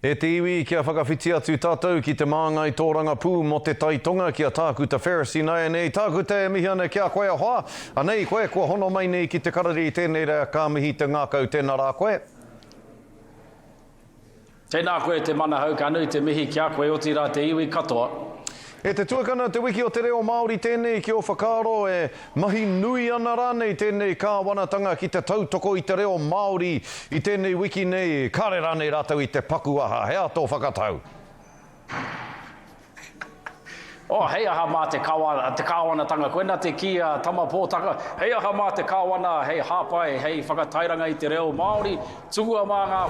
E te iwi, kia whakawhiti atu tātou ki te māngai tōrangapū mō te Tai Tonga ki a Tākuta Ferris ināianei Tākuta e mihi ana ki a koe ahoa anei koe kua hono mai nei ki te karari tēnei rā ka mihi te ngākau tēnā rā koe. Tēnā koe te manahau ka nui te mihi ki a koe otirā te iwi katoa E te tuakana Te Wiki o te Reo Māori tēnei ki ō whakaaro e mahi nui ana rānei tēnei kāwanatanga ki te tautoko i te reo Māori i tēnei wiki nei, kāre rānei rātou i te paku aha, he aha tō whakatau? Oh, hei aha mā te kāwana, te kāwanatanga, koina te kī a Tama Pōtaka, hei aha mā te kāwana hei hāpai, hei whakatairanga i te reo Māori, tukua mā ngā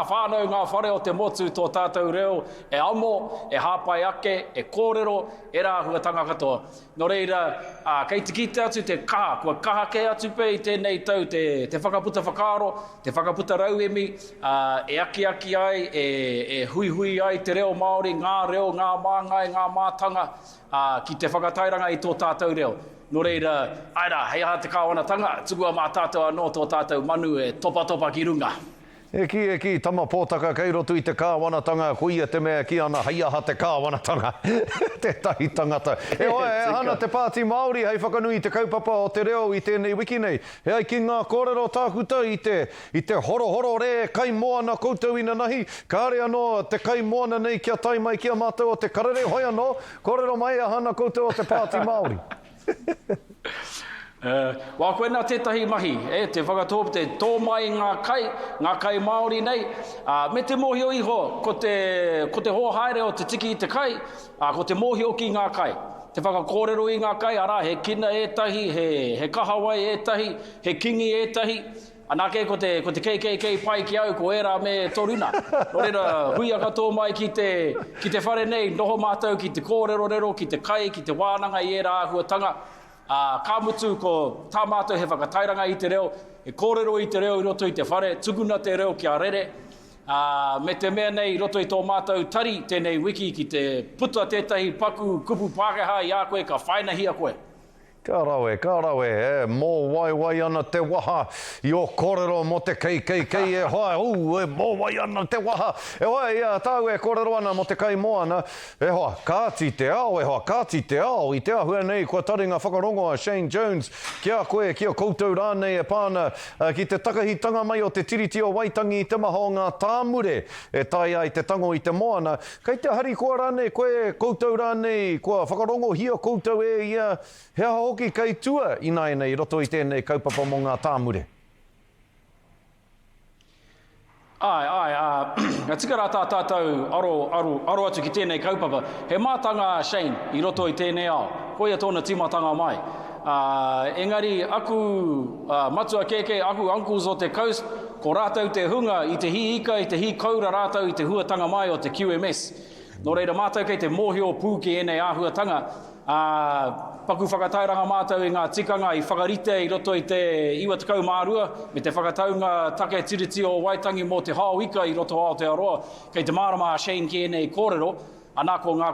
whānau, ngā whare o te motu tō tātou reo, e amo, e hāpai ake, e kōrero, ērā āhuatanga katoa. Nō reira, kei te kite atu te kaha, kua kaha kē atu pea i tēnei tau te whakaputa whakaaro, te whakaputa rauemi, e akiaki ai, e huihui ai te reo Māori, ngā reo, ngā māngai, ngā mātanga, ki te whakatairanga i tō tātou reo. Nō reira, āe rā, hei aha te Kāwanatanga, tukua mā tātou anō tō tātou manu e topatopa ki runga. E kī, e kī, tama pōtaka kei roto i te kāwanatanga, koia te mea e kī ana hei aha te kāwanatanga? Tētahi tangata. Heoi, e aha ana te Pāti Māori hei whakanui i te kaupapa o te reo i tēnei wiki nei? E ai ki ngā kōrero tākuta i te, i te horohoro rē kai moana koutou inanahi, kāre anō te kai moana nei kia tae mai ki a mātou o te karere, hoi anō, kōrero mai e aha ana koutou o te Pāti Māori? Wā koinā tētahi mahi, e, te whakatōp, te tō mai ngā kai, ngā kai Māori nei, ā, me te mōhio iho ko te, ko te hōhaere o te tiki i te kai, ā, ko te mōhio ki ngā kai, te whakakōrero i ngā kai, arā, he kina ētahi, he, he kahawai ētahi, he kingi ētahi, Anake ko te ko te kkk pai ki au ko era me toruna no reira huia katoa mai ki te ki te whare nei noho matou ki te korerorero ki te kai ki te wananga i era ahuatanga a ka mutu ko ta matou he whakatairanga i te reo e korero i te reo i roto i te whare tukuna te reo kia rere a me te mea nei i roto i to matou tari tenei wiki ki te puta tetahi paku kupu pakeha i a koe ka whainahia koe. Ka rawe, ka rawe, e mōwaiwai ana te waha i ō kōrero mō te KKK e hoa, ū, e mōwai ana te waha, e hoa, i a tāu e kōrero ana mō te kaimoana, e hoa, kāti te ao, e hoa, kāti te ao, i te āhua nei kua taringa whakarongo a Shane Jones ki a koe, ki a koutou rānei e pā ana ki te takahitanga mai o te Tiriti o Waitangi i te maha o ngā tāmure e taea ai te tango i te moana, Kei te harikoa rānei koe, koutou rānei, kua whakarongohia koutou e ia, he aha hoki kei tua ināianei i roto i tēnei kaupapa mō ngā tāmure? Āe, āe, ā, ka tika rā tā tātou aro, aro, aro atu ki tēnei kaupapa. He mātanga a Shane i roto i tēnei ao, koia tōna tīmatanga mai. Ā, engari aku matua kēkē, aku uncles o te coast, ko rātou te hunga i te hī ika, i te hī koura rātou i te huatanga mai o te QMS. Nō reira, mātou kei te mōhio pū ki ēnei āhuatanga, ā, paku whakatairanga mātou i ngā tikanga i whakaritea i roto i te 92 me te whakataunga take Tiriti o Waitangi mō te hao ika i roto o Aotearoa. Kei te mārama a Shane ki ēnei kōrero. Ana ko ngā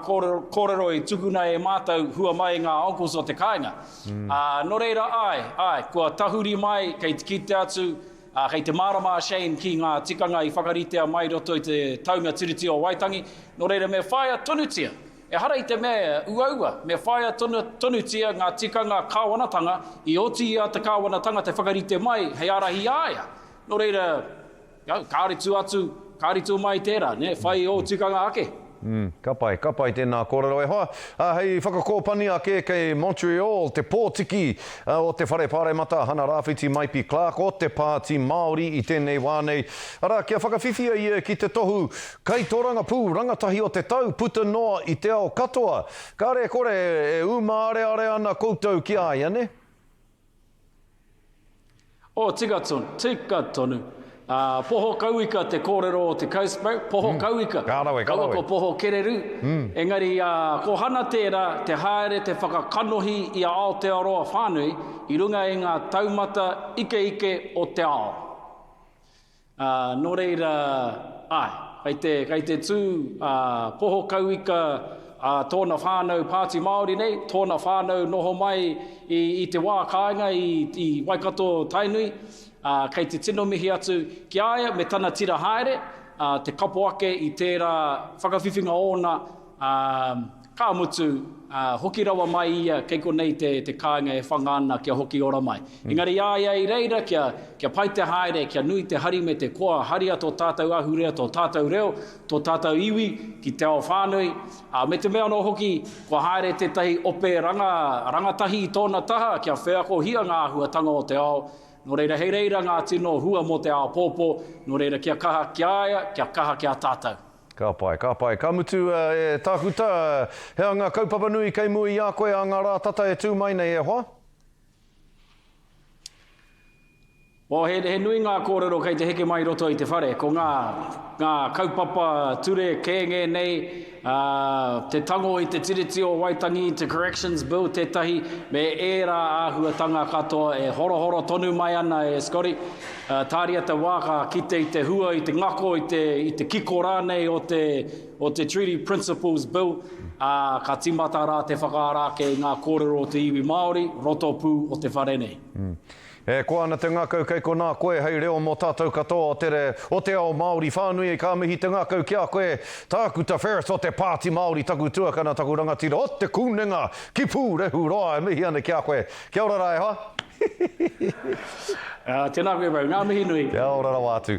kōrero i tukuna e mātou hua mai i ngā uncles o te kāinga. Ā, nō reira, āe, āe, kua tahuri mai, kei te kite atu, ā, kei te mārama a Shane ki ngā tikanga i whakaritea mai i roto i te taunga Tiriti o Waitangi, nō reira me whāia tonutia, ehara i te mea e uaua, me whāia tonutia ngā tikanga kāwanatanga i oti i a te kāwanatanga te whakarite mai hei ārahi i a ia. Nō reira. Kāore tū atu, kāore tū mai tērā, whai ō tikanga ake. Ka pai, ka pai tēnā kōrero e hoa. Hei whakakōpani ake kei Montreal te pōtiki o te Whare Pāremata Hana Rāwhiti Maipi Clark o te Pāti Māori i tēnei wā nei. Arā, kia whakawhiwhia ia ki te tohu Kaitorangapū Rangatahi o te Tau puta noa i te ao katoa. Kāre e kore e ūmāreare ana koutou ki a ia, nē? Oh, tika tonu, tika tonu. Ah, poho kauika te kōrero o te Cowspout, poho kauika. Ka rawe, ka rawe. Kaua ko poho kereru. Engari, ah, ko Hana tērā, te haere, te whakakanohi i a Aotearoa whānui i runga i ngā taumata ikeike o te ao. Ā, nō reira, āe, kei te, kei te tū a Poho Kauika, a tōna whānau Pāti Māori nei, tōna whānau noho mai i, i te wā kāinga i, i Waikato, Tainui, ā, kei te tino mihi atu ki a ia me tana tira haere, ā, te kapo ake i tērā whakawhiwhinga ōna, ā, Ka mutu, ā, hoki rawa mai ia, kei konei te, te kāinga e whanga ana kia hoki ora mai. Engari i a ia i reira kia, kia pai te haere, kia nui te hari me te koa, haria tō tātou ahurea, tō tātou reo, tō tātou iwi ki te ao whānui, ā, me te mea anō hoki, kua haere tētahi ope ranga, rangatahi i tōna taha kia wheakohia ngā āhuatanga o te ao, nō reira hei reira ngā tino hua mō te āpōpō, nō reira kia kaha ki a ia, kia kaha ki a tātou. Ka pai, ka pai. Ka mutu, e Tākuta, he aha ngā kaupapa nui kei mua i a koe ā ngā rā tata e tū mai nei, e hoa? Oh, he, he nui ngā kōrero kei te heke mai i roto i te whare. Ko ngā, ngā kaupapa ture kē ngēnei, ā, te tango i te Tiriti o Waitangi, te Corrections Bill tētahi, me ērā āhuatanga katoa e horohoro tonu mai ana e Scotty. Tāria te wā ka kite i te hua, i te ngako, i te, i te kiko rānei o te, o te Treaty Principles Bill, ā, ka tīmata rā te whakaara ake i ngā kōrero o te iwi Māori, roto pū o te whare nei. E koa ana te ngakau kei konā koe hei reo mō tātou katoa o te, o te ao Māori whānui, ka mihi te ngakau ki a koe, Tākuta Ferris o te Pāti Māori, taku tuakana, taku rangatira o Te Kunenga ki Pūrehuroa, e mihi ana ki a koe. Kia ora rā e hoa. Hehehehe. Tēnā koe bro, ngā mihi nui. Kia ora rawa atu.